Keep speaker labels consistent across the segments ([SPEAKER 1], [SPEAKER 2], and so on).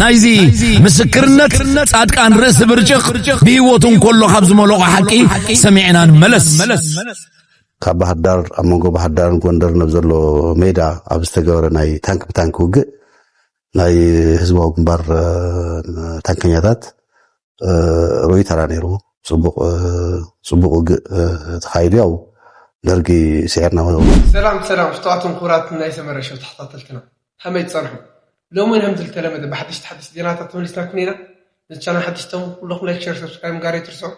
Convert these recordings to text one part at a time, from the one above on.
[SPEAKER 1] ናይዚ ምስክርነት ጻድቃን ርእሲ ብርጭቕ ብህይወቱ እንከሎ ካብ ዝመለቖ ሓቂ ሰሚዕና ንመለስ።
[SPEAKER 2] ካብ ባህር ዳር ኣብ መንጎ ባህር ዳርን ጎንደርን ኣብ ዘሎ ሜዳ ኣብ ዝተገበረ ናይ ታንክ ብታንክ ውግእ ናይ ህዝባዊ ግንባር ታንከኛታት ሮይተራ ነይሩ ጽቡቅ ጽቡቅ ውግእ ተኻይዱ ያው ደርጊ ስዒርና ሰላም ሰላም ስተዋትን
[SPEAKER 3] ኩራት ናይ ሰመረ ሸው ተኸታተልትና ከመይ ትጸንሑ ሎሚ ውን ከምዚ ዝተለመደ ብሓደሽቲ ሓደሽቲ ዜናታት ተመሊስናኩም ኢና ነቲ ቻናል ሓደሽቲ ተሙ ኩለኹም ላይክ ሸር ሰብስክራይብ ምጋር ኣይትርስዑ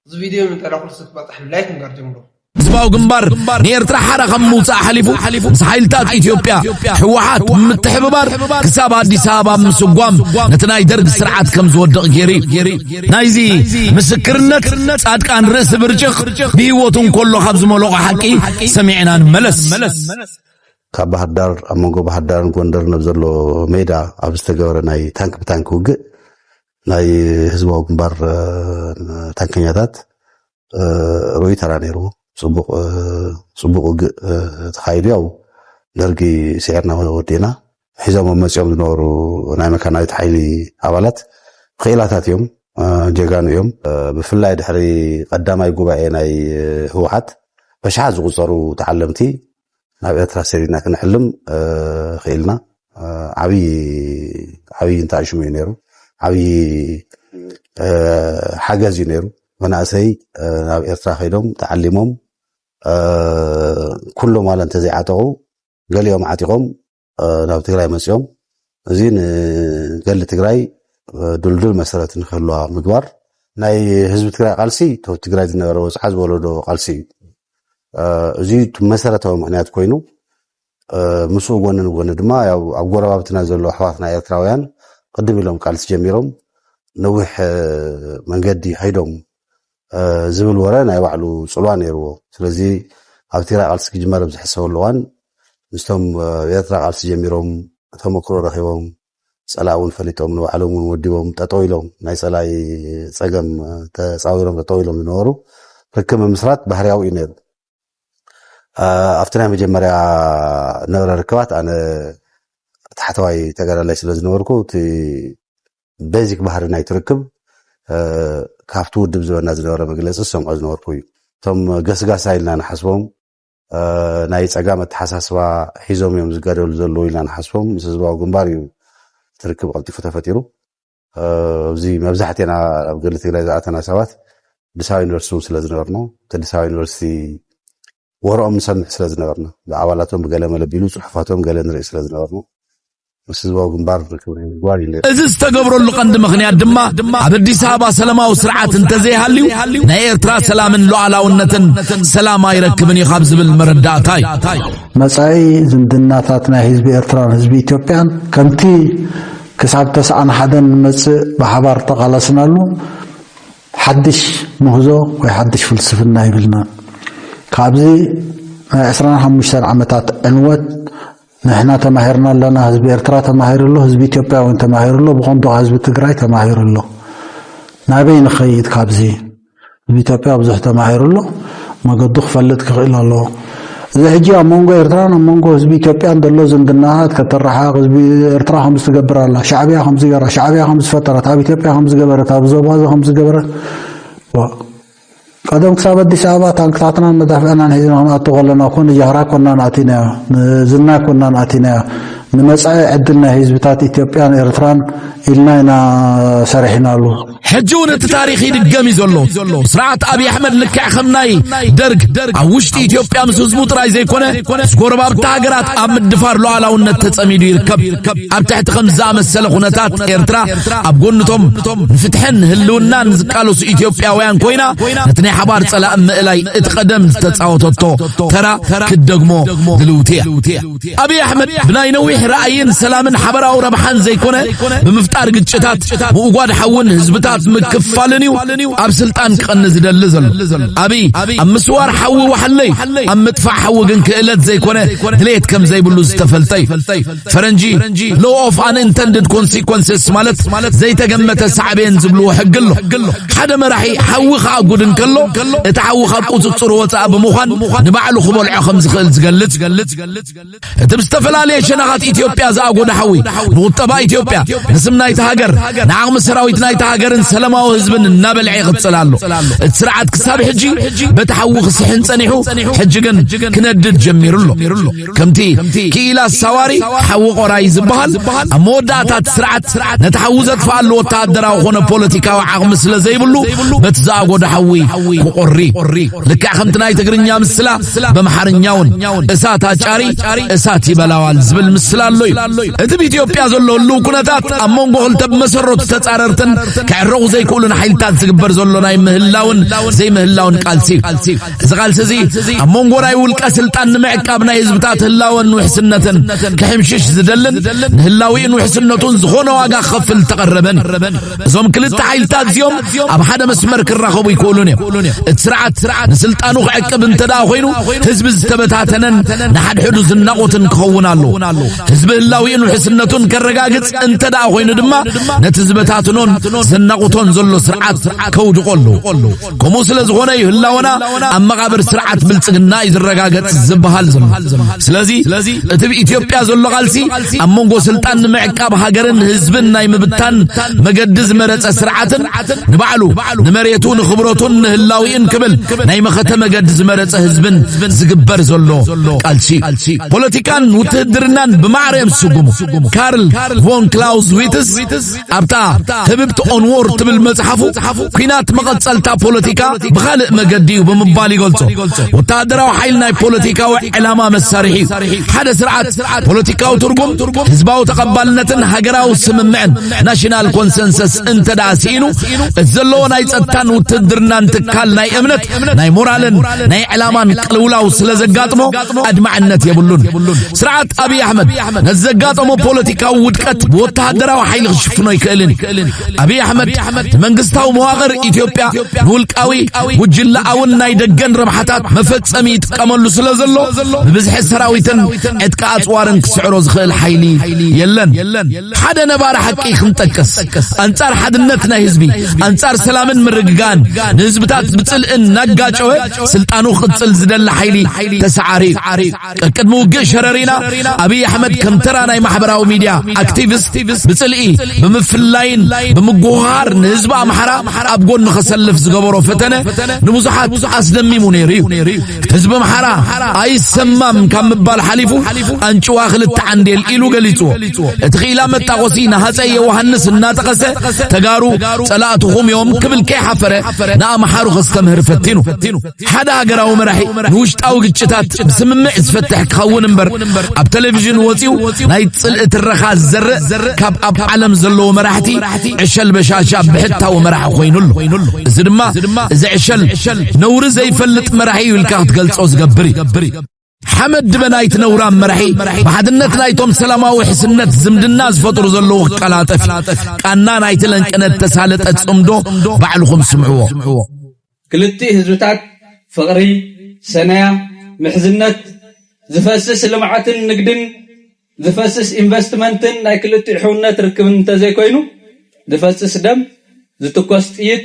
[SPEAKER 3] እዚ ቪድዮ ንጠላ ኩልሱ ክበጽሕ ላይክ ምግባር ጀምሩ። ህዝባዊ
[SPEAKER 1] ግንባር ንኤርትራ ሓራ ካብ ምውፃእ ሓሊፉ ምስ ሓይልታት ኢትዮጵያ ህወሓት ምትሕብባር ክሳብ ኣዲስ ኣበባ ምስጓም ነቲ ናይ ደርግ ስርዓት ከም ዝወድቕ ገይሩ ናይዚ ምስክርነት ጻድቃን ርእሲ ብርጭቕ ብህይወቱ እንከሎ ካብ ዝመለቖ ሓቂ ሰሚዕና ንመለስ
[SPEAKER 2] ካብ ባህር ዳር ኣብ መንጎ ባህር ዳርን ጎንደርን ኣብ ዘሎ ሜዳ ኣብ ዝተገበረ ናይ ታንክ ብታንክ ውግእ ናይ ህዝባዊ ግንባር ታንከኛታት ርኡይ ተራ ነይሩ ፅቡቅ ውግእ ተኻይዱ ያው ደርጊ ስዒርና ወዲእና ሒዞም መፂኦም ዝነበሩ ናይ መካናዊት ሓይሊ ኣባላት ክኢላታት እዮም ጀጋኑ እዮም ብፍላይ ድሕሪ ቀዳማይ ጉባኤ ናይ ህወሓት በሽሓት ዝቁፀሩ ተዓለምቲ ናብ ኤርትራ ሰዲድና ክንሕልም ኽኢልና ዓብዪ ዓብዪ እንተኣሽሙ እዩ ነይሩ ዓብዪ ሓገዝ እዩ ነይሩ መናእሰይ ናብ ኤርትራ ከይዶም ተዓሊሞም ኩሎም ዋላ እንተዘይዓጠቑ ገሊኦም ዓጢቖም ናብ ትግራይ መፅኦም እዚ ንገሊ ትግራይ ድልዱል መሰረት ንክህልዋ ምግባር ናይ ህዝቢ ትግራይ ቃልሲ ካብ ትግራይ ዝነበረ ወፅዓ ዝወለዶ ቃልሲ እዩ እዚ መሰረታዊ ምክንያት ኮይኑ ምስኡ ጎኒ ንጎኒ ድማ ኣብ ጎረባብትና ዘሎ ኣሕዋትና ኤርትራውያን ቅድም ኢሎም ቃልሲ ጀሚሮም ነዊሕ መንገዲ ከይዶም ዝብል ወረ ናይ ባዕሉ ጽልዋ ነይርዎ። ስለዚ ኣብ ትግራይ ቃልሲ ክጅመር ኣብ ዝሕሰበሉ እዋን ምስቶም ኣብ ኤርትራ ቃልሲ ጀሚሮም ተመክሮ ረኺቦም ጸላኢ እውን ፈሊጦም ንባዕሎም እውን ወዲቦም ጠጠው ኢሎም ናይ ጸላኢ ጸገም ተጻዊሮም ጠጠው ኢሎም ዝነበሩ ርክብ ምምስራት ባህርያዊ እዩ ነይሩ። ኣብቲ ናይ መጀመርያ ነበረ ርክባት ኣነ ታሕተዋይ ተጋዳላይ ስለ ዝነበርኩ እቲ ቤዚክ ባህሪ ናይቲ ርክብ ካብቲ ውድብ ዝበና ዝነበረ መግለፂ ዝሰምዖ ዝነበርኩ እዩ እቶም ገስጋሳ ኢልና ንሓስቦም ናይ ፀጋም ኣተሓሳስባ ሒዞም እዮም ዝጋደሉ ዘለዉ ኢልና ንሓስቦም ምስ ህዝባዊ ግንባር እዩ እቲ ርክብ ቀልጢፉ ተፈጢሩ እዚ መብዛሕትና ኣብ ገድሊ ትግራይ ዝኣተና ሰባት ኣዲስ ኣበባ ዩኒቨርሲቲ እውን ስለ ዝነበርኖ እቲ ኣዲስ ኣበባ ዩኒቨርሲቲ ወረኦም ንሰምዕ ስለ ዝነበርና፣ ብኣባላቶም ብገለመለ ቢሉ ጽሑፋቶም ገለ ንርኢ ስለ ዝነበርና፣ ምስ ህዝባዊ ግንባር ርክብ ናይ ምግባር እዩ ነይሩ። እዚ ዝተገብረሉ ቀንዲ
[SPEAKER 1] ምኽንያት ድማ፣ ኣብ ኣዲስ ኣበባ ሰለማዊ ስርዓት እንተዘይሃልዩ፣ ናይ ኤርትራ ሰላምን ሉኣላውነትን ሰላም ኣይረክብን እዩ ካብ ዝብል መረዳእታ እዩ። መጻኢ
[SPEAKER 4] ዝምድናታት ናይ ህዝቢ ኤርትራን ህዝቢ ኢትዮጵያን ከምቲ ክሳብ ተስዓን ሓደን ንመጽእ ብሓባር ተቓለስናሉ ሓድሽ ምህዞ ወይ ሓድሽ ፍልስፍና ይብልናን ካብዚ ናይ ዕስራን ሓሙሽተን ዓመታት ዕንወት ንሕና ተማሂርና ኣለና ህዝቢ ኤርትራ ተማሂሩ ኣሎ ህዝቢ ኢትዮጵያ እውን ተማሂሩ ኣሎ ብኮንቶ ህዝቢ ትግራይ ተማሂሩ ኣሎ ናበይ ንኸይድ ካብዚ ህዝቢ ኢትዮጵያ ብዙሕ ተማሂሩ ኣሎ መገዱ ክፈልጥ ክኽእል ኣለዎ እዚ ሕጂ ኣብ መንጎ ኤርትራን ኣብ መንጎ ህዝቢ ኢትዮጵያን ዘሎ ዝምድናታት ከተረሓቕ ህዝቢ ኤርትራ ከምዚ ትገብር ኣላ ሻዕብያ ከምዚ ገራ ሻዕብያ ከምዚ ፈጠረት ኣብ ኢትዮጵያ ከምዚ ገበረት ኣብ ዞባዚ ከምዚ ገበረት ቀደም ክሳብ ኣዲስ ኣበባ ታንክታትና መዳፍዕናን ሒዝና ክንኣቱ ከለና እኮ ንጃህራ ኮና ንኣቲናዮ ንዝና ኮና ንኣቲናዮ ንመጻኢ ዕድል ናይ ህዝብታት ኢትዮጵያን ኤርትራን ኢልና ኢና ሰሪሕናሉ ሕጂ እውን እቲ ታሪኽ
[SPEAKER 1] ይድገም እዩ ዘሎ ስርዓት ኣብዪ ኣሕመድ ልክዕ ከም ናይ ደርግ ኣብ ውሽጢ ኢትዮጵያ ምስ ህዝቡ ጥራይ ዘይኮነ ምስ ጎረባብቲ ሃገራት ኣብ ምድፋር ሉዓላውነት ተጸሚዱ ይርከብ ኣብ ትሕቲ ከም ዝኣመሰለ ኩነታት ኤርትራ ኣብ ጎንቶም ንፍትሕን ህልውናን ዝቃለሱ ኢትዮጵያውያን ኮይና ነቲ ናይ ሓባር ጸላእ ምእላይ እቲ ቀደም ዝተጻወተቶ ተራ ክትደግሞ ድልውቲ እያ ኣብይ ኣሕመድ ብናይ ነዊሕ ራእይን ሰላምን ሓበራዊ ረብሓን ዘይኮነ ብምፍጣር ግጭታት ምውጓድ ሓውን ህዝብታት ምክፋልን እዩ ኣብ ስልጣን ክቐኒ ዝደሊ ዘሎ ኣብይ ኣብ ምስዋር ሓዊ ዋሕለይ ኣብ ምጥፋእ ሓዊ ግን ክእለት ዘይኮነ ድሌት ከም ዘይብሉ ዝተፈልጠ እዩ ፈረንጂ ሎ ኦፍ ኣን ኢንተንድድ ኮንሲኮንስስ ማለት ዘይተገመተ ሳዕቤን ዝብልዎ ሕጊ ኣሎ ሓደ መራሒ ሓዊ ከኣጉድ እንከሎ እቲ ሓዊ ካብ ቁፅፅሩ ወፃእ ብምዃን ንባዕሉ ክበልዖ ከም ዝኽእል ዝገልፅ ዝገልጽ እቲ ብዝተፈላለየ ሸነኻት ኢትዮጵያ ዝኣጎደ ሓዊ ንቁጠባ ኢትዮጵያ ንስም ናይቲ ሃገር ንዓቕሚ ሰራዊት ናይቲ ሃገርን ሰላማዊ ህዝብን እናበልዐ ይቕጽል ኣሎ። እቲ ስርዓት ክሳብ ሕጂ በቲ ሓዊ ክስሕን ጸኒሑ ሕጂ ግን ክነድድ ጀሚሩ ኣሎ። ከምቲ ክኢላ ሳዋሪ ሓዊ ቆራይ ዝበሃል ኣብ መወዳእታ እቲ ስርዓት ነቲ ሓዊ ዘጥፍኣሉ ወተሃደራዊ ኮነ ፖለቲካዊ ዓቕሚ ስለ ዘይብሉ በቲ ዝኣጎደ ሓዊ ክቆሪ ልክዕ ከምቲ ናይ ትግርኛ ምስላ በምሓርኛውን እሳት ኣጫሪ እሳት ይበላዋል ዝብል ምስል ኣሎ እዩ እቲ ብኢትዮጵያ ዘሎ ህልው ኩነታት ኣብ መንጎ ክልተ ብመሰረቱ ተጻረርትን ክዕረቑ ዘይክእሉን ሓይልታት ዝግበር ዘሎ ናይ ምህላውን ዘይምህላውን ቃልሲ እዩ እዚ ቃልሲ እዚ ኣብ መንጎ ናይ ውልቀ ስልጣን ንምዕቃብ ናይ ህዝብታት ህላወን ውሕስነትን ክሕምሽሽ ዝደልን ንህላዊኡን ውሕስነቱን ዝኾነ ዋጋ ክኸፍል ተቐረበን እዞም ክልተ ሓይልታት እዚኦም ኣብ ሓደ መስመር ክራኸቡ ይክእሉን እዮም እቲ ስርዓት ስርዓት ንስልጣኑ ክዕቅብ እንተ ደኣ ኮይኑ ህዝቢ ዝተበታተነን ንሓድሕዱ ዝናቑትን ክኸውን ኣለዎ ህዝቢ ህላዊኡን ውሕስነቱን ከረጋግጽ እንተ ደኣ ኮይኑ ድማ ነቲ ዝበታትኖን ዘናቑቶን ዘሎ ስርዓት ከውድቖ ኣለዎ ከምኡ ስለ ዝኾነ እዩ ህላወና ኣብ መቓብር ስርዓት ብልጽግና እዩ ዝረጋገጽ ዝበሃል ዘሎ ስለዚ እቲ ብኢትዮጵያ ዘሎ ቃልሲ ኣብ መንጎ ስልጣን ንምዕቃብ ሃገርን ህዝብን ናይ ምብታን መገዲ ዝመረጸ ስርዓትን ንባዕሉ ንመሬቱ ንኽብረቱን ንህላዊእን ክብል ናይ መኸተ መገዲ ዝመረጸ ህዝብን ዝግበር ዘሎ ቃልሲ ፖለቲካን ውትህድርናን ብማዕረ እዮም ዝስጉሙ ካርል ቮን ክላውስ ዊትስ ኣብታ ህብብቲ ኦንዎር ትብል መጽሓፉ ኩናት መቐጸልታ ፖለቲካ ብኻልእ መገዲ እዩ ብምባል ይገልጾ ወተሃደራዊ ሓይል ናይ ፖለቲካዊ ዕላማ መሳርሒ እዩ ሓደ ስርዓት ፖለቲካዊ ትርጉም ህዝባዊ ተቐባልነትን ሃገራዊ ስምምዕን ናሽናል ኮንሰንሰስ እንተ ደኣ ስኢኑ እቲ ዘለዎ ናይ ጸጥታን ውትድርናን ትካል ናይ እምነት ናይ ሞራልን ናይ ዕላማን ቅልውላው ስለ ዘጋጥሞ ኣድማዕነት የብሉን ስርዓት ኣብዪ ኣሕመድ ነዚ ዘጋጠሞ ፖለቲካዊ ውድቀት ብወተሃደራዊ ሓይሊ ክሽፍኖ ኣይክእልን እዩ። ኣብይ ኣሕመድ መንግስታዊ መዋቕር ኢትዮጵያ ንውልቃዊ ጉጅለኣውን ናይ ደገን ረብሓታት መፈጸሚ ይጥቀመሉ ስለ ዘሎ ብብዝሒ ሰራዊትን ዕጥቂ ኣጽዋርን ክስዕሮ ዝኽእል ሓይሊ የለን። ሓደ ነባሪ ሓቂ ክንጠቅስ ኣንጻር ሓድነት ናይ ህዝቢ ኣንጻር ሰላምን ምርግጋእን ንህዝብታት ብጽልእን እናጋጨወ ስልጣኑ ክቅጽል ዝደሊ ሓይሊ ተሰዓሪ እዩ። ቀቅድሚ ውግእ ሸረሪና ኣብይ ኣሕመድ ከም ተራ ናይ ማሕበራዊ ሚድያ ኣክቲቪስት ብጽልኢ ብምፍላይን ብምጉሃር ንህዝቢ ኣምሓራ ኣብ ጎኒ ከሰልፍ ዝገበሮ ፈተነ ንብዙሓት ኣስደሚሙ ነይሩ እዩ ህዝቢ ኣምሓራ ኣይሰማም ካብ ምባል ሓሊፉ ኣንጭዋ ክልተ ዓንዴል ኢሉ ገሊጽዎ እቲ ክኢላ መጣቆሲ ንሃፀይ ዮውሃንስ እናጠቐሰ ተጋሩ ጸላእትኹም እዮም ክብል ከይሓፈረ ንኣምሓሩ ከስተምህር ፈቲኑ ሓደ ሃገራዊ መራሒ ንውሽጣዊ ግጭታት ብስምምዕ ዝፈትሕ ክኸውን እምበር ኣብ ቴሌቪዥን ወፂኡ ናይ ፅልኢ ትረኻ ዝዘርእ ካብ ኣብ ዓለም ዘለዎ መራሕቲ ዕሸል በሻሻ ብሕታዊ መራሒ ኮይኑ ኣሎ እዚ ድማ እዚ ዕሸል ነውሪ ዘይፈልጥ መራሒ እዩ ኢልካ ክትገልፆ ዝገብር እዩ ሓመድ ድበ ናይቲ ነውራም መራሒ ብሓድነት ናይቶም ሰላማዊ ሕስነት ዝምድና ዝፈጥሩ ዘለዉ ክቀላጠፍ ቃና ናይቲ ለንቅነት ተሳለጠ ጽምዶ ባዕልኹም ስምዕዎ ክልቲ
[SPEAKER 5] ህዝብታት ፍቕሪ ሰነያ ምሕዝነት ዝፈስስ ልምዓትን ንግድን ዝፈስስ ኢንቨስትመንትን ናይ ክልቲኡ ሕውነት ርክብን እንተዘይኮይኑ፣ ዝፈስስ ደም፣ ዝትኮስ ጥይት፣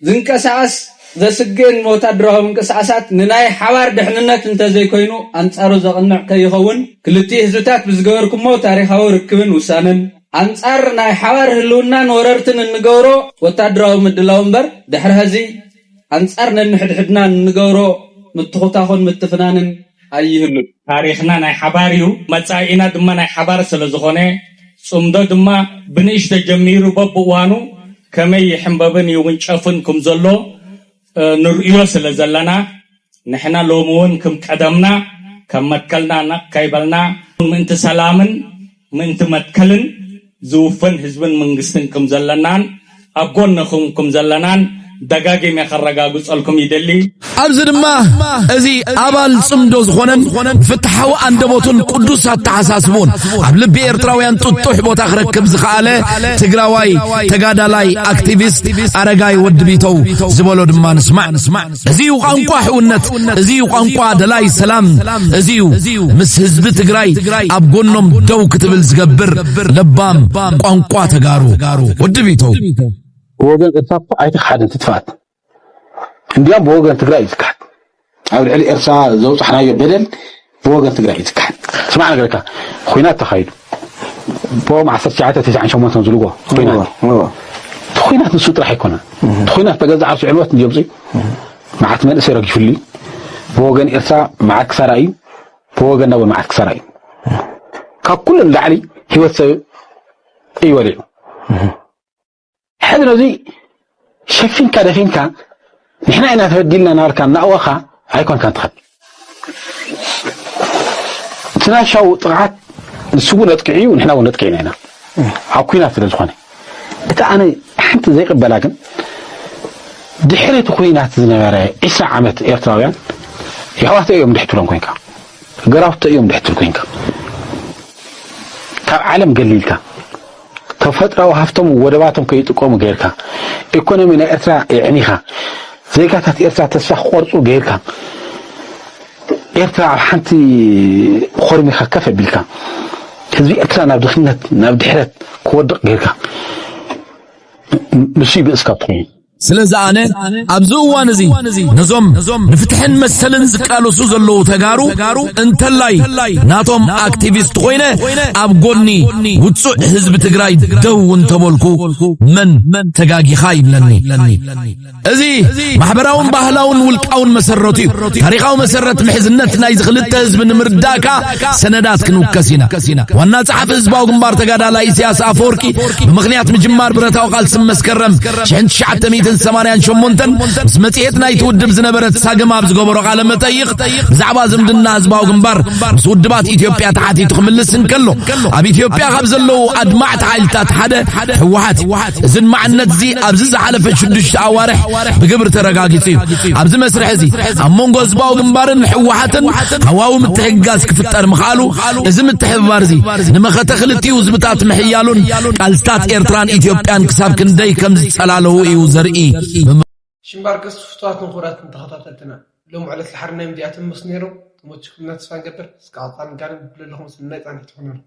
[SPEAKER 5] ዝንቀሳቐስ ዘስግእን ወታደራዊ ምንቅስቓሳት ንናይ ሓባር ድሕንነት እንተዘይኮይኑ ኣንጻሩ ዘቕንዕ ከይኸውን፣ ክልቲኡ ህዝብታት ብዝገበርኩሞ ታሪኻዊ ርክብን ውሳነን፣ ኣንጻር ናይ ሓባር ህልውናን ወረርትን እንገብሮ ወታደራዊ ምድላው እምበር፣ ድሕሪ ሀዚ ኣንጻር ነንሕድሕድና እንገብሮ ምትኹታኹን ምትፍናንን፣ ኣይህሉን። ታሪኽና ናይ ሓባር እዩ፣ መጻኢና ድማ ናይ ሓባር ስለ ዝኾነ፣ ጽምዶ ድማ ብንእሽቶ ጀሚሩ በብእዋኑ ከመይ ይሕምበብን ይውንጨፍን ክም ዘሎ ንርእዮ ስለ ዘለና፣ ንሕና ሎሚ እውን ክም ቀደምና ካብ መትከልና ነቕ ከይበልና ምእንቲ ሰላምን፣ ምእንቲ መትከልን ዝውፈን ህዝብን መንግስትን ክም ዘለናን ኣብ ጎንኹም ክም ዘለናን ደጋጊመ ከረጋግጸልኩም ይደሊ። ኣብዚ ድማ እዚ ኣባል ጽምዶ ዝኾነን ፍትሓዊ ኣንደበቱን ቅዱስ ኣተሓሳስቡን ኣብ ልቢ ኤርትራውያን ጥጡሕ ቦታ ክረክብ ዝኸኣለ ትግራዋይ ተጋዳላይ ኣክቲቪስት ኣረጋይ ወዲ ቢተው ዝበሎ ድማ ንስማዕ። እዚ እዩ ቋንቋ ሕውነት፣ እዚ እዩ ቋንቋ ደላይ ሰላም፣ እዚ እዩ ምስ ህዝቢ ትግራይ ኣብ ጎኖም ደው ክትብል ዝገብር ለባም ቋንቋ ተጋሩ ወዲ ቢተው። ብወገን
[SPEAKER 6] ኤርትራ እኮ ኣይተክሓደን ትጥፋት እንዲያም ብወገን ትግራይ እዩ ዝካሓድ ኣብ ልዕሊ ኤርትራ ዘውፃሕናዮ በደል ብወገን ትግራይ እዩ ዝከሓድ። ስማዕ ነገረካ ኹናት ተኻይዱ ብኦም ዓሰርተ ትሽዓተ ተስዓን ሸሞንተን ዝልዎ ኹናት እቲ ኹናት ንሱ ጥራሕ ኣይኮነን እቲ ኹናት ተገዛ ዓርሱ ዕንወት ንጀምፂ እዩ መዓት መንእሰይ ረጊፍሉ እዩ ብወገን ኤርትራ መዓት ክሳራ እዩ ብወገን ናቦ መዓት ክሳራ እዩ ካብ ኩሉ ንላዕሊ ህይወት ሰብ እዩ ወሊዑ ሕዚ ነዙይ ሸፊንካ ደፊንካ ንሕና ኢና ተበዲልና ናበልካ እናእወኻ ኣይኮንካን ትኸድ እቲ ናሻው ጥቕዓት ንሱ እውን ነጥቅዕ እዩ ንሕና እውን ነጥቅዕ ኢና ኢና ኣብ ኩናት ስለ ዝኾነ እቲ ኣነ ሓንቲ ዘይቅበላ ግን ድሕሪ እቲ ኩናት ዝነበረ ዒስራ ዓመት ኤርትራውያን የሕዋተ እዮም ድሕትሎም ኮንካ ገራውተ እዮም ድሕትል ኮንካ ካብ ዓለም ገሊልካ ተፈጥራዊ ሃፍቶም ወደባቶም ከይጥቀሙ ገይርካ፣ ኤኮኖሚ ናይ ኤርትራ የዕኒኻ፣ ዜጋታት ኤርትራ ተስፋ ክቆርጹ ገይርካ፣ ኤርትራ ኣብ ሓንቲ ኾርሚኻ ከፍ ኣቢልካ፣ ህዝቢ ኤርትራ ናብ ድኽነት ናብ ድሕረት ክወድቕ ገይርካ፣ ንሱዩ ብእስካ ትኾይኑ። ስለዚ ኣነ
[SPEAKER 1] ኣብዚ እዋን እዚ ነዞም ንፍትሕን መሰልን ዝቃለሱ ዘለዉ ተጋሩ እንተላይ ናቶም ኣክቲቪስት ኮይነ ኣብ ጎኒ ውፁዕ ህዝቢ ትግራይ ደው እንተበልኩ መን ተጋጊኻ ይብለኒ እዚ ማሕበራውን ባህላውን ውልቃውን መሰረቱ እዩ ታሪካዊ መሰረት ምሕዝነት ናይዚ ክልተ ህዝቢ ንምርዳእካ ሰነዳት ክንውከስ ኢና ዋና ጸሓፊ ህዝባዊ ግንባር ተጋዳላይ ኢሳያስ ኣፈወርቂ ብምኽንያት ምጅማር ብረታዊ ቃልሲ መስከረም 1988 ምስ መጽሔት ናይቲ ውድብ ዝነበረት ሳግም ኣብ ዝገበሮ ቃለ መጠይቕ ብዛዕባ ዝምድና ህዝባዊ ግንባር ምስ ውድባት ኢትዮጵያ ተሓቲቱ ክምልስ እንከሎ ኣብ ኢትዮጵያ ካብ ዘለዉ ኣድማዕቲ ሓይልታት ሓደ ህወሓት እዚ ድማዕነት እዚ ኣብዚ ዝሓለፈ ሽዱሽተ ኣዋርሕ ብግብሪ ተረጋጊጹ እዩ ኣብዚ መስርሕ እዚ ኣብ መንጎ ህዝባዊ ግንባርን ህወሓትን ሃዋዊ ምትሕግጋዝ ክፍጠር ምኽኣሉ እዚ ምትሕብባር እዚ ንመኸተ ክልቲኡ ህዝብታት ምሕያሉን ቃልስታት ኤርትራን ኢትዮጵያን ክሳብ ክንደይ ከም ዝጸላለዉ እዩ ዘርኢ ሽምባር
[SPEAKER 3] ቀስ ፍትዋት ንኩራት ንተኸታተልትና ሎም ዕለት ልሓርና እዮም ዚኣቶም ምስ ነይሮም ተመችኩምና ተስፋ ንገብር እስከ ዕጣን ጋርን ብለለኹም ሰናይ ጻንሒት ይኹነልኩም